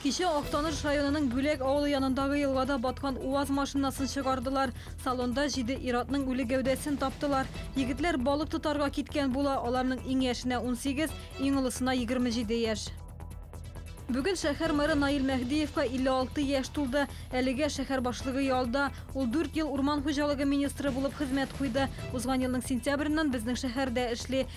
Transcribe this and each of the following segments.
Кичә Актаныш районының Бүләк авылы янындагы елгада баткан УАЗ машинасын чыгардылар. Салонда җиде иратның үле гәүдәсен таптылар. Егетләр балык тотарга киткән була, аларның иң яшенә 18, иң олысына 27 яшь. Бүген шәһәр мэры Наил Мәһдиевка 56 яшь тулды. Әлегә шәһәр башлыгы ялда. Ул 4 ел урман хуҗалыгы министры булып хезмәт куйды. Узган елның сентябреннән безнең шәһәрдә эшли.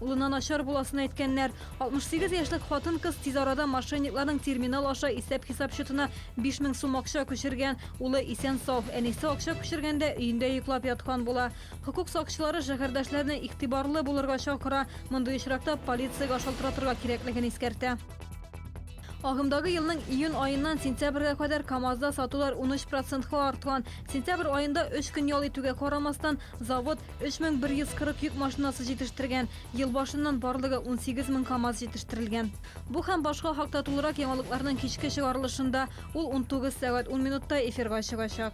Улына начар буласын әйткәннәр. 68 яшьлек хатын-кыз тиз арада мошенникларның терминал аша исәп-хисап счетына 5000 сум акча күчергән. Улы исән-сау, әнисе акча күчергәндә өендә йоклап яткан була. Хокук сакчылары шәһәрдәшләрне игътибарлы булырга чакыра, мондый очракта полициягә шалтыратырга кирәклеген искәртә. Агымдагы елның июнь аеннан сентябрьгә кадәр КАМАЗда сатулар 13 процентка арткан. Сентябрь аенда өч көн ял итүгә карамастан, завод 3140 йөк машинасы җитештергән. Ел башыннан барлыгы 18 мең КАМАЗ җитештертелгән. Бу һәм башка хакта тулырак яңалыкларның кичке чыгарылышында, ул 19 сәгать 10 минутта эфирга чыгачак.